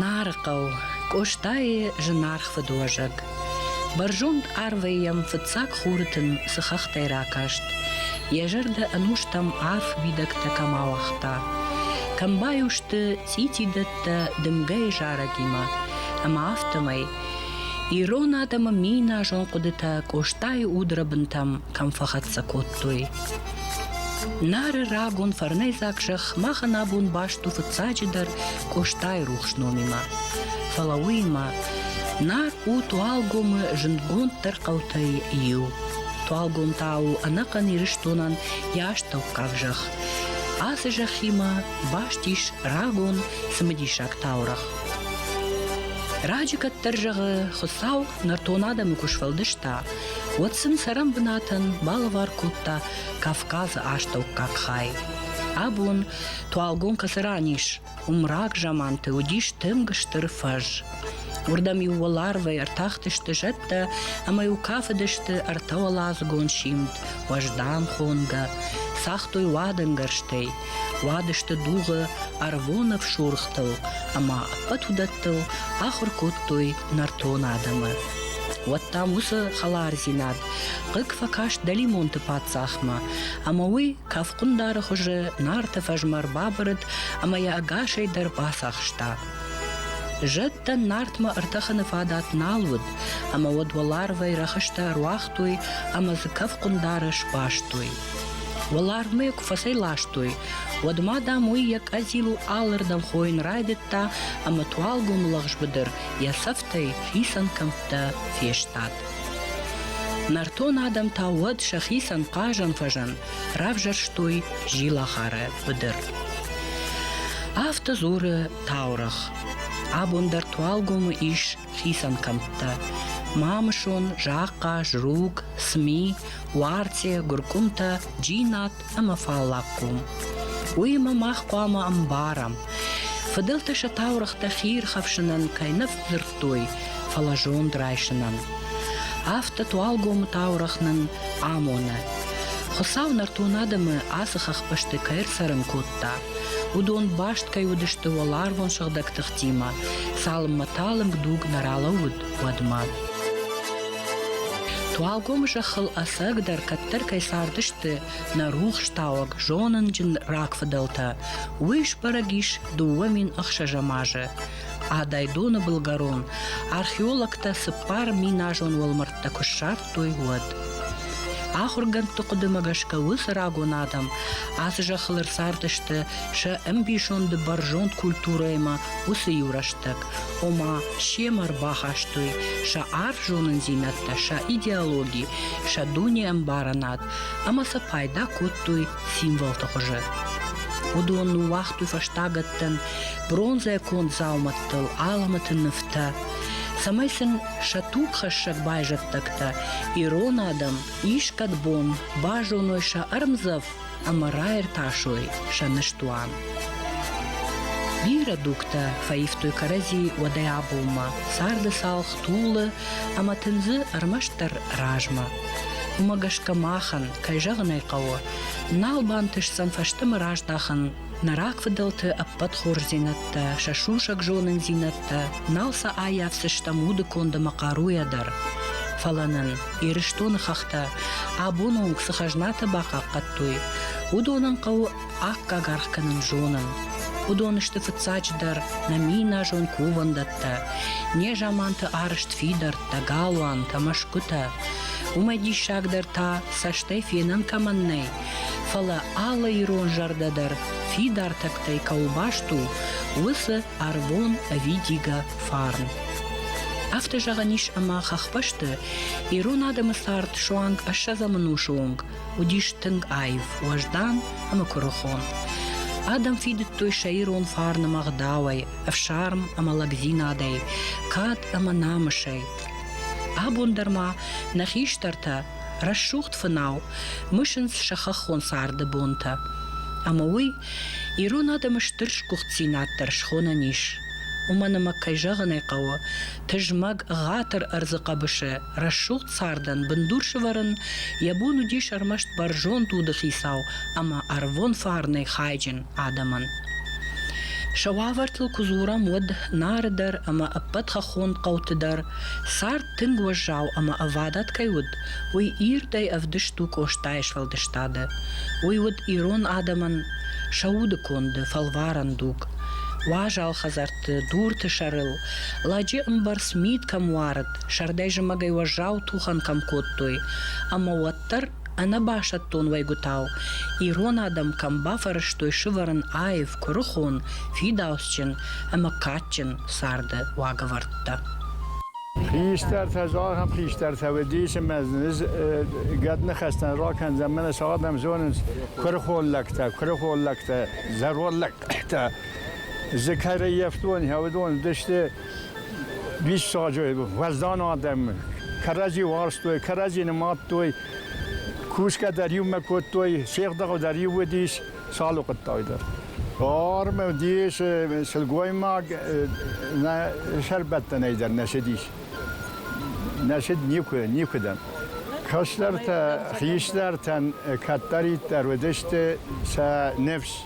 Нарыхъӕу Къостайы зынаргъ фыдуӕзӕг. Бӕрзонд арвӕй йӕм фыццаг хурытын цы хӕхтӕй ракаст, йӕ зӕрдӕ ӕнустӕм арф уидӕгтӕ кӕм ауагъта. Кӕм баиу сты цъитидӕттӕ дымгӕйы зарӕгимӕ, ӕмӕ афтӕмӕй ирон адӕмы миназон хъуыдытӕ Къостайы удрыбынтӕм кӕм фӕхӕццӕ кодтой. Нары рагон фӕрнӕйдзаг зӕхх махӕн абон баст у фыццаджыдӕр Къостайы рухс номимӕ. Фӕлӕ уыимӕ Нар у Туалгомы зындгонддӕр хъӕутӕй иу. Туалгом та у ӕнӕхъӕн Ирыстонӕн йӕ астӕуккаг зӕхх. Ацы зӕххимӕ баст ис рагон цымыдисаг таурӕгъ. Раджы кӕддӕр зӕгъы, Хуыцау нӕртон адӕмы куы сфӕлдыста, уӕд сын цӕрӕн бынатӕн балӕвар кодта Кавказы астӕуккаг хай. Абон туалгом кӕцы ранис, уымрак заманты уыдис тынг стыр фӕз. Уырдӕм-иу уӕларвӕй ӕртахтысты зӕдтӕ, ӕмӕ-иу кафыдысты ӕртӕуӕладзыгон симд, уӕздан хонгӕ, цагътой уадӕнгӕрзтӕй, Уадысты дугъы ӕрвонӕф сурхтыл ӕмӕ ӕппӕт уыдӕттыл ахуыр кодтой нӕртон адӕмы. Уӕд дам уыцы хӕлардзинад хъыг фӕкаст дӕлимонты паддзахмӕ, ӕмӕ уый кӕфхъуындары хуызы Нарты фӕзмӕ ӕрбабырыд ӕмӕ йӕ ӕгасӕй дӕр бацахста. Зӕдтӕ Нартмӕ ӕртӕхыны фадат нал уыд, ӕмӕ уӕд уӕларвӕй рӕхыстӕ ӕруагътой ӕмӕ дзы кӕфхъуындары сбастой. Уӕларвмӕ йӕ куы фӕцӕйластой, уӕд ма, дам, уый йӕ къӕдзилыл алырдӕм хойын райдыдта ӕмӕ туалгом лӕгъзбыдыр йӕ цӕфтӕй хицӕн кӕмттӕ фестад. Нӕртон адӕм та уӕд сӕхицӕн хъазӕн-фӕзӕн равзӕрстой зилахары быдыр. Афтӕ дзуры таурӕгъ. Абон дӕр туалгомы ис хицӕн кӕмттӕ Мамысон, Захъаз, Руг, Сми, Уарцъе, Гуыркъуымтӕ, Джинат ӕмӕ Фаллагхъом. Уыимӕ мах хъуамӕ ӕмбарӕм, фыдӕлтӕ сӕ таурӕгътӕ хиирхӕфсынӕн кӕй нӕ фӕдзырдтой, фӕлӕ зонд райсынӕн. Афтӕ Туалгомы таурӕгъ нын амоны. Хуыцау нӕртон адӕмы ацы хӕхбӕсты кӕй ӕрцӕрын кодта, Уыдон баст кӕй уыдысты уӕларвон сыгъдӕг тыхтимӕ, цалынмӕ талынг дуг нӕ ралӕууыд, уӕдмӕ. Туалгомы зӕххыл ӕцӕгдӕр кӕддӕр кӕй цардысты нӕ рухстауӕг зонынджын рагфыдӕлтӕ, уый сбӕрӕг ис дыууӕ мин ӕхсӕзӕм азы. Адайдоны былгӕрон археологтӕ цыппар миназон уӕлмӕрдтӕ куы ссардтой, кодтой, уӕд. Ахуыргӕндты хъуыдымӕ гӕсгӕ уыцы рагон адӕм ацы зӕххыл ӕрцардысты сӕ ӕмбисонды бӕрзонд культурӕимӕ уыцы иу рӕстӕг, ома семӕ ӕрбахастой сӕ арф зонындзинӕдтӕ, сӕ идеологи, сӕ дунеӕмбарынад ӕмӕ сӕ пайда кодтой символты хуызы. Уыдон ныууагътой фӕстагӕттӕн бронзӕ конд дзаумӕттыл аламӕты нывтӕ, цӕмӕй сын Сӕ тугхӕссӕг байзӕддӕгтӕ ирон адӕм искӕд бон базоной сӕ ӕрмдзӕф ӕмӕ раиртасой сӕ ныстуан. Бирӕ дугтӕ фӕивтой кӕрӕдзи уӕдӕй абонмӕ. Царды цалх тулы ӕмӕ тындзы ӕрмӕстдӕр размӕ. Уымӕ гӕсгӕ махӕн, кӕй зӕгъын ӕй хъӕуы, нал бантысдзӕн фӕстӕмӕ раздахын Нӕ рагфыдӕлты ӕппӕт хорздзинӕдтӕ, сӕ сусӕг зонындзинӕдтӕ нал сӕ аййафдзыстӕм уды конд ӕмӕ хъаруйӕ дӕр. Фӕлӕ нын Ирыстоны хӕхтӕ абоны онг цы хӕзнатӕ бахъахъхъӕдтой, уыдонӕн хъӕуы аккаг аргъ кӕнын зонын. Уыдон сты фыццаджыдӕр нӕ миназон кувӕндӕттӕ, не заманты арызт фидӕрттӕ, галуантӕ, мӕсгуытӕ. Уымӕ диссагдӕр та цӕстӕй фенӕн кӕмӕн нӕй, Фӕлӕ алы ирон зӕрдӕ дӕр фидар тӕгтӕй кӕуыл баст у, уыцы ӕрвон ӕвидигӕ фарн. Афтӕ зӕгъӕн ис ӕмӕ хӕхбӕсты ирон адӕмы цард суанг ӕссӕдзӕмӕнусы онг уыдис тынг аив, уӕздан ӕмӕ куырыхон. Адӕм фидыдтой сӕ ирон фарн ӕмӕ ӕгъдауӕй, ӕфсарм ӕмӕ лӕгдзинадӕй, кад ӕмӕ намысӕй. Абон дӕр ма нӕ хистӕртӕ Рӕсугъд фынау мысынц сӕ хӕххон царды бонтӕ. Ӕмӕ уый ирон адӕмы стыр сгуыхтдзинад дӕр схонӕн ис. Уымӕн ӕмӕ, кӕй зӕгъын ӕй хъӕуы, тызмӕг, ӕгъатыр ӕрдзы хъӕбысы рӕсугъд цардӕн бындур сывӕрын йӕ бон уыдис ӕрмӕст бӕрзонд удыхицау ӕмӕ ӕрвон фарнӕй хайджын адӕмӕн. Сӕ уавӕртыл куы дзурӕм, уӕд Нары дӕр ӕмӕ ӕппӕт хӕххон хъӕуты дӕр Цард тынг уӕззау ӕмӕ ӕвадат кӕй уыд, уый ирдӕй ӕвдыст у Къостайы сфӕлдыстады. Уый уыд ирон адӕмӕн сӕ уды конды, фӕлварӕн дуг. Уазал хӕдзӕртты, дурты сӕрыл, лӕджы ӕмбӕрц мит кӕм уарыд, сӕрдӕй-зымӕгӕй уӕззау тухӕн кӕм кодтой, ӕмӕ уӕддӕр Ӕнӕбасӕттон уӕйгуытау ирон адӕм кӕм бафӕрӕзтой сывӕрын аив, куырыхон, фидауцджын ӕмӕ кадджын царды уагӕвӕрдтӕ. Хистӕртӕ, зӕгъӕм, хистӕртӕ уыдис ӕмӕ низ гӕд ныхӕстӕн ракӕндзӕн, мӕнӕ сӕ адӕм зонынц куырыхон лӕгтӕ, куырыхон лӕгтӕ, зӕронд лӕгтӕ. Дзы кӕрӕййӕфтон уыдон уыдысты Диссаджы уӕздан адӕм кӕрӕдзи уарзтой, кӕрӕдзи нымадтой, кусгӕ дӕр иумӕ кодтой, сехдӕгъы дӕр иу уыдис, цал уыхъуыдтай дӕр. Форма дис сылгоймаг нӕ сӕрбӕттӕнӕй дӕр нӕ цыдис. Нӕ цыд никуы, никуыдӕм. Кӕстӕртӕ, хистӕртӕн кӕддӕриддӕр уыдысты сӕ ныфс.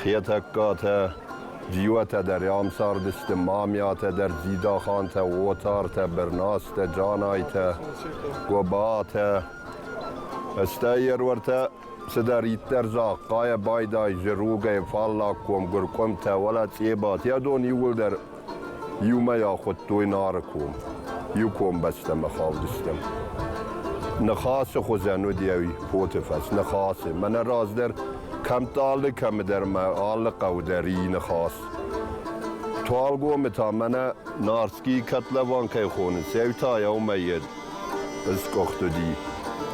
Хетӕгкатӕ, Джиотӕ дӕр ам цардысты, Мамиатӕ дӕр, Дзидахантӕ, Отартӕ, Бырнастӕ, Джанайтӕ, Гобатӕ. Стӕй еруӕртӕ цыдӕриддӕр загъ, хъайӕ байдайы зыругӕй, фаллагком, гуыркъуымтӕ, уӕлӕ цъебат, йӕ дон иууылдӕр Иумӕ ахуыдтой Нары ком. Иу комбӕстӕмӕ хаудыстӕм. Ныхасы хуызӕн уыдӕуи поты фӕс ныхасы. Мӕнӕ раздӕр кӕмдӕр алы кӕмдӕр мӕ алы хъӕуы дӕр и ныхас. Туалгомы та мӕнӕ Нарскийы котлован кӕй хонынц, ау та яумӕйед ысгуыхт уыди.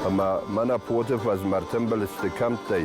Ӕмӕ мӕнӕ поты фӕз мӕ ртымбыл сты кӕмттӕй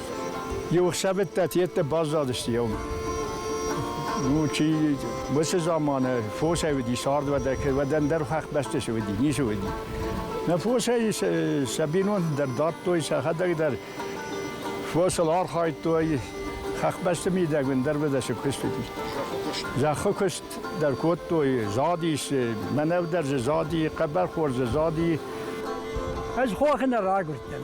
Иу ӕхсӕвӕттӕ йеддӕ баззадысты еум. Ну, чи уыцы заманы фосӕй уыди сӕрдвадӕг, уӕдӕн дӕр хӕхбӕсты уыди, ницы уыди. Нӕ фосӕй сӕ бинонты дӕр дардтой, сӕхӕдӕг дӕр фосыл архайдтой. Хӕхбӕсты мидӕгмӕ дӕр уыдӕсы куыст уыди. Зӕххы куыст дӕр кодтой, задис, мӕнӕв дӕр дзы зади, хъӕбӕрхор дзы зади. Ӕз хохы нӕ рагуырдтӕн.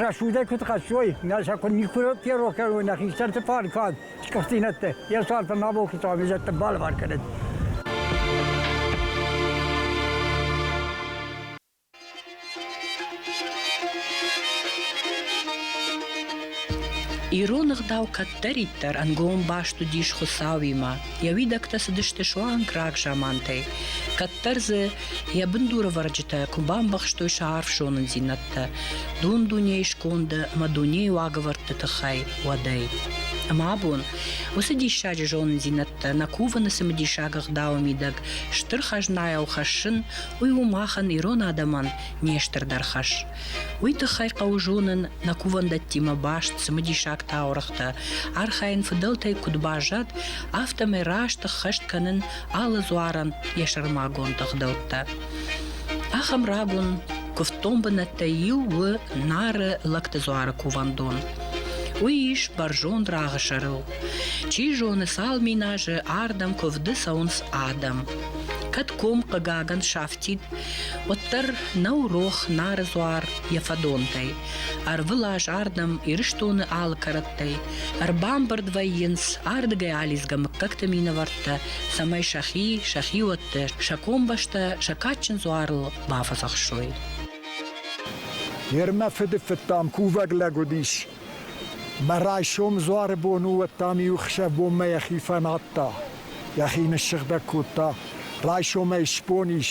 Рӕсуйдӕй куд хӕссой, нӕ сӕ микротерроркӕ нӕ хистӕрти фарфад скъӕфтинӕдтӕ, е сарпа ма болки туавизӕттӕ балвар кӕнӕд. Ирон ӕгъдау кӕддӕриддӕр ӕнгом баст уыдис Хуыцауимӕ. Йӕ уидӕгтӕ цыдысты суанг рагзамантӕй. Кӕддӕр дзы Йӕ бындурӕвӕрджытӕ куы бамбӕхстой сӕ арф зонындзинӕдтӕ дун-дунейы сконды ӕмӕ дунейы уагӕвӕрдты тыххӕй уӕдӕй. Ӕмӕ абон уыцы диссаджы зонындзинӕдтӕ нӕ кувыны цымыдисаг ӕгъдауы мидӕг стыр хӕзнайау хӕссын, уый у махӕн, ирон адӕмӕн, не стырдӕр хӕс. Уый тыххӕй хъӕуы зонын нӕ кувӕндӕттимӕ баст цымыдисаг таурӕгътӕ, архайын фыдӕлтӕй куыд баззад, афтӕмӕй раст ӕххӕст кӕнын алы дзуарӕн йӕ сӕрмагонд ӕгъдӕуттӕ. Ахӕм рагон куывддон бынӕттӕй иу у Нары лӕгты дзуары кувӕндон. Уый ис бӕрзонд рагъы сӕрыл. Чи зоны, цал миназы ардӕм куывды цӕуынц адӕм. Кӕд ком хъыгагӕн сафтид, уӕддӕр нӕу рох Нары дзуар йӕ фӕдонтӕй. Ӕрвылаз ардӕм Ирыстоны алы кӕрӕттӕй Ӕрбамбырд вӕййынц ардыгӕй алидзгӕ мыггӕгты минӕвӕрттӕ, цӕмӕй сӕхи, сӕ хиуӕттӕ, сӕ комбӕстӕ сӕ кадджын дзуарыл бафӕдзӕхсой. Йер мӕ фыдыфыдтам кувӕг лӕг уыдис. Мӕ райсом дзуары бон у, уӕд дам иу хсӕвбонмӕ йӕхи фӕнадта, йӕхи ныссыгъдӕг кодта. Райсомӕй сбон ис,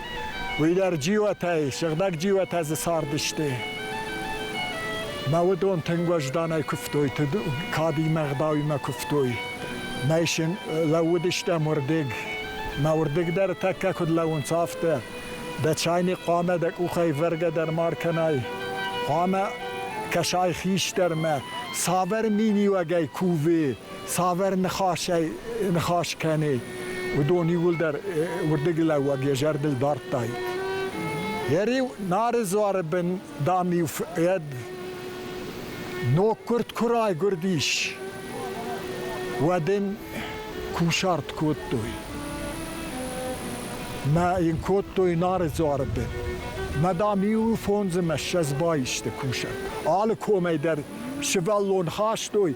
Уый дӕр джиуатӕй, сыгъдӕг джиуатӕ дзы цардысты. Мӕ уыдон тынг уӕзданӕй куывтой, кадимӕ, гъдауимӕ куывтой. Нӕй син лӕууыдыстӕм уырдыг. Мӕ уырдыг дӕр тӕккӕ куыд лӕууынц, афтӕ. Дӕ чайник хъуамӕ дӕ къухӕй вӕргӕ дӕр ма ркӕнай. Хъуамӕ кӕсай хистӕрмӕ, цавӕр миниуӕгӕй кувы, цавӕр ныхасӕй ныхас кӕны, уыдон иууылдӕр уырдыглӕууӕг йӕ зӕрдыл дардтай. Йӕ риу Нары дзуары бын, дам-иу фӕд ноггуырд куы райгуырдис, уӕд ын кусарт кодтой. Мӕ йын кодтой Нары дзуары бын. Мӕ дам иу фондзы мӕссӕдз баисты кусарт. Алы комӕй дӕр сывӕллон хастой,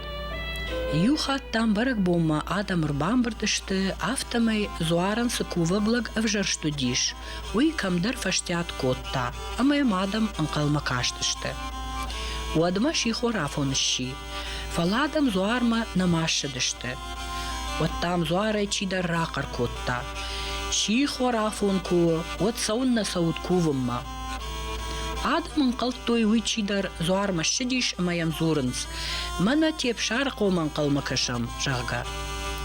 Иу хатт дам бӕрӕгбонмӕ адӕм ӕрбамбырд сты, афтӕмӕй дзуарӕн цы кувӕг лӕг ӕвзӕрст уыдис, уый кӕмдӕр фӕстиат кодта, ӕмӕ йӕм адӕм ӕнхъӕлмӕ кастысты. Уӕдмӕ сихор афон сси, фӕлӕ адӕм дзуармӕ нӕма ссыдысты. Уӕд дам дзуарӕй чидӕр рахъӕр кодта: «Сихор афон куы у, уӕд цӕуыннӕ цӕут кувынмӕ?» Адӕм ӕнхъӕлдтой, уый чидӕр дзуармӕ ссыдис ӕмӕ йӕм дзурынц, мӕнӕ те Псарыхъом ӕнхъӕлмӕ кӕсӕм, зӕгъгӕ.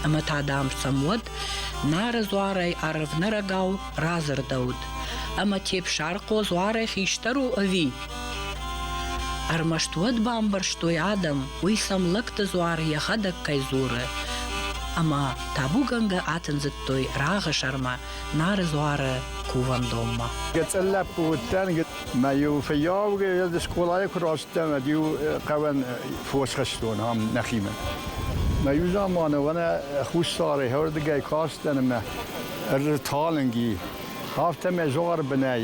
Ӕмӕ та, дам, сӕм уӕд Нары дзуарӕй арвнӕрӕгау радзырдӕуыд, ӕмӕ Тепсарыхъо дзуарӕй хистӕр у ӕви? Ӕрмӕст уӕд бамбӕрстой адӕм, уый сӕм лӕгты дзуар йӕхӕдӕг кӕй дзуры. Ӕмӕ табугӕнгӕ атындзыдтой рагъы сӕрмӕ Нары дзуары кувӕндонмӕ. Гӕцӕн лӕппу уыдтӕн, мӕ-иу фыййаугӕ ӕз скъолайы куы рацыдтӕн, ӕд-иу хъӕуӕн фос хастон ам нӕхимӕ. Мӕ иу заманы уӕнӕ хуссары хӕрдыгӕй кастӕн ӕмӕ ӕрталынг и, афтӕ мӕ зуар бынӕй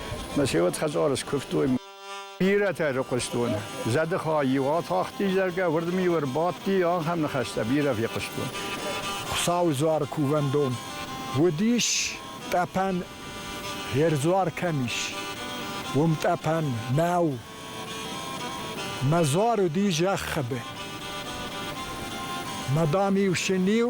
Мӕ се уод хӕдзары скуывтой. Бирӕтӕ рыхъуыстон. Зӕдыхай иу атахти, зӕгъгӕ, уырдӕм-иу ӕрбадти, ахӕм ныхӕстӕ бирӕ фехъуыстон. Хуыцауы дзуар кувӕндон уыдис, тъӕпӕн ӕрдзуар кӕм ис, уым тъӕпӕн нӕу. Мӕ дзуар уыди зӕххыбы. Мадам-иу син-иу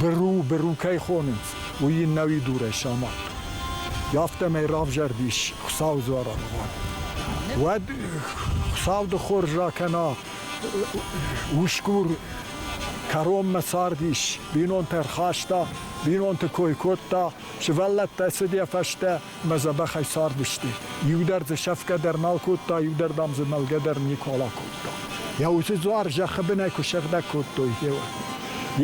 Быру, быру кӕй хонынц, уый йын нӕу идурӕй самад. Афтӕмӕй равзӕрдис Хуыцауы дзуараргъуан. Уӕд Хуыцауды хорз ракӕна усгур кӕронмӕ цардис, бинонтӕ рхаста, бинонты кой кодта, сывӕллӕттӕ цыд йӕ фӕстӕ, Мӕ дзӕбӕхӕй цардысты. Иу дӕр дзы сӕфгӕ дӕр нал кодта, иу дӕр, дам, дзы мӕлгӕ дӕр никуал акодта. Йӕ уыцы дзуар зӕххы бынӕй куы сыгъдӕг кодтой, гъе уӕд.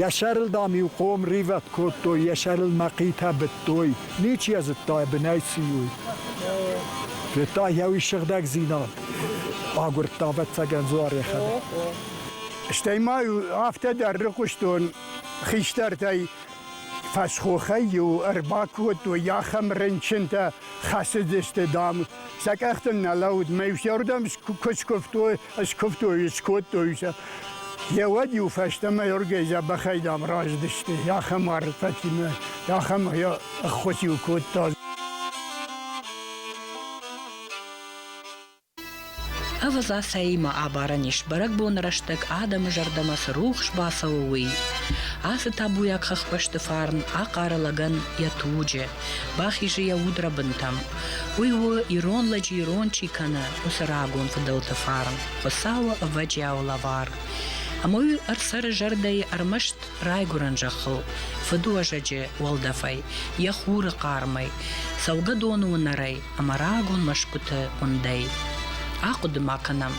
Йӕ сӕрыл, дам, иу хъом ривӕд кодтой, йӕ сӕрыл мӕхъитӕ быдтой. Ничи йӕ зыдта, йӕ бынӕй цы и, уый. Федта йӕ уый сыгъдӕгдзинад. Агуырдта, ӕвӕццӕгӕн, дзуар йӕхӕдӕг. Стӕй ма афтӕ дӕр рыхъуыстон хистӕртӕй Фӕсхохӕй-иу ӕрбакодтой ахӕм рынчынтӕ, хӕцыдысты, дам, сӕ къӕхтыл нӕ лӕуд, мӕ усӕрдӕм куы скуывтой, скуывтой, скодтой сӕ. Геуӕд-иу фӕстӕмӕ оргӕй дзӕбӕхӕй, дам, раздысты. Ахӕм арфӕтимӕ, ахӕм ӕххуыс-иу кодта. Ӕвӕдза, цӕимӕ абарӕн ис, бӕрӕгбоны рӕстӕг адӕмы зӕрдӕмӕ цы рухс бацӕуы, уый. Ацы табуйаг хӕхбӕсты фарн ахъары лӕгӕн йӕ туджы, бахизы йӕ удрӕбынтӕм. Уый у, ирон лӕджы ирон чи кӕны, уыцы рагон фыдӕлты фарн, Хуыцауы ӕвӕджиау лӕвар. Ӕмӕ уый ӕрцӕры зӕрдӕйы ӕрмӕст райгуырӕн зӕххыл, фыдуӕзӕджы уӕлдӕфӕй, йӕ хуры хъармӕй, цӕугӕдоны уынӕрӕй ӕмӕ рагон мӕсгуыты уындӕй. Ахъуыды ма кӕнӕм,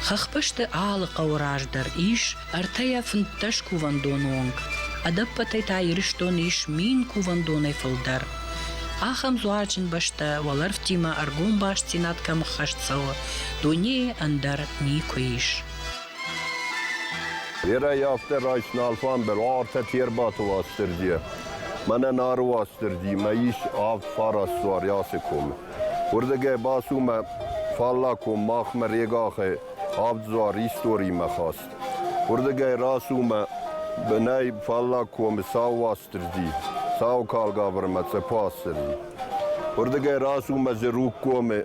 хӕхбӕсты алы хъӕуы раз дӕр ис ӕртӕйӕ фынддӕс кувӕндоны онг. Ӕдӕппӕтӕй та Ирыстон ис мин кувӕндонӕй фылдӕр. Ахӕм дзуарджын бӕстӕ уӕлӕрвтимӕ ӕргом бастдзинад кӕм ӕххӕст цӕуы, дунейы ӕндӕр никуы ис. Берӕ афтӕ райсна алфамбыл, артӕ чи ӕрбаты Уастырджийӕ. Мӕнӕ Нары Уастырджи, мӕ ис авд фарасуар Ясы комы. Уырдыгӕй бацу мӕ фаллаг ком махмӕ Регахӕй авд дзуар историмӕ хаст. Уырдыгӕй рацу мӕ бынӕй фаллаг комы Сау Уастырджи, Сау калгаврмӕ Цъепы Уастырджи. Уырдыгӕй рацу мӕ Зыруг комы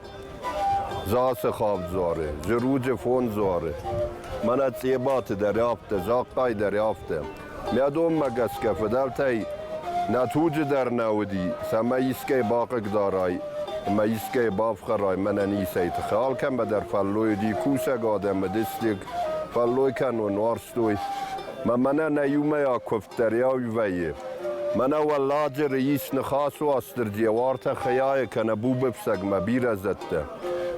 Засе хӕвд дзуары, зыруджы фонд дзуары. Мӕнӕ Цъебаты дӕр афтӕ, Захъхъай дӕр афтӕ. Мӕ донмӕ гӕсгӕ фыдӕлтӕй нӕ туджы дӕр нӕ уыди, цӕмӕй искӕй бахъыгдарай ӕмӕ искӕй бафхӕрай, мӕнӕ ницӕй тыххӕй. Алкӕмӕ дӕр фӕллой уыди, кусӕг адӕмы дыстыг фӕллой кӕнон уарзтой. Мӕ мӕнӕ нӕ иумӕйаг куывд дӕр иу вӕййы. Мӕнӕ Уӕлладжыры ис Ныхасы Уастырджи йӕ уартӕ хӕйайӕ кӕнӕ бубыфсӕгмӕ бирӕ зӕдтӕ.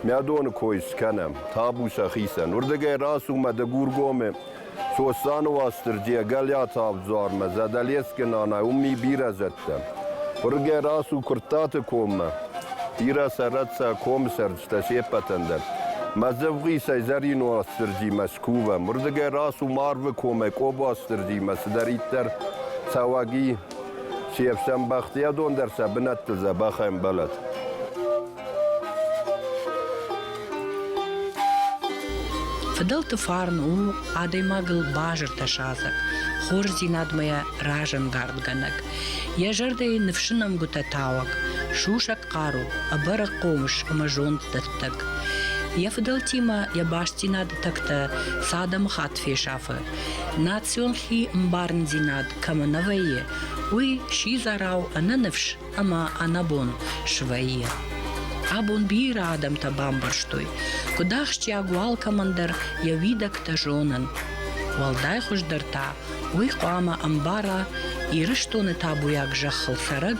Мӕ доны кой скӕнӕм, табу сӕхицӕн. Уырдыгӕй рацу мӕ Дыгургомы Сосланы Уастырджийӕ Гӕлиаты Авдзуармӕ, Задӕлескы нанайы уым и бирӕ зӕдтӕ. Уырдыгӕй рацу Куырттаты коммӕ. Бирӕ сӕрӕт сӕ комы сӕр Стӕ се ппӕтӕн дӕр. Мӕ дзывгъисӕй зӕрин Уастырджи Мӕскувӕ, мырзыгӕй рацу Марвы комӕй Къобуастырджимӕ цыдӕриддӕр цӕуӕг и, се фсӕн бӕхтиадон дӕр сӕ бынӕттыл дзӕбӕх ӕмбӕлӕд. Фыдӕлты фарн у адӕймагыл базыртӕ садзӕг, хорздзинадмӕ йӕ разӕнгардгӕнӕг, йӕ зӕрдӕйы ныфсы нӕмгуытӕ тауӕг, сусӕг хъару, ӕбӕрӕг хъомыс ӕмӕ зонддӕттӕг. Йӕ фыдӕлтимӕ йӕ бастдзинады тӕгтӕ цы адӕмыхатт фесафы, национ хи ӕмбарындзинад кӕмӕ нӕ вӕййы, уый сидзӕрау ӕнӕныфс ӕмӕ ӕнӕбон свӕййы. Абон бирӕ адӕмтӕ бамбӕрстой, куыд ахсджиаг у алкӕмӕндӕр йӕ уидӕгтӕ зонын. Уӕлдай хуыздӕр та уый хъуамӕ ӕмбара Ирыстоны табуйаг зӕххыл цӕрӕг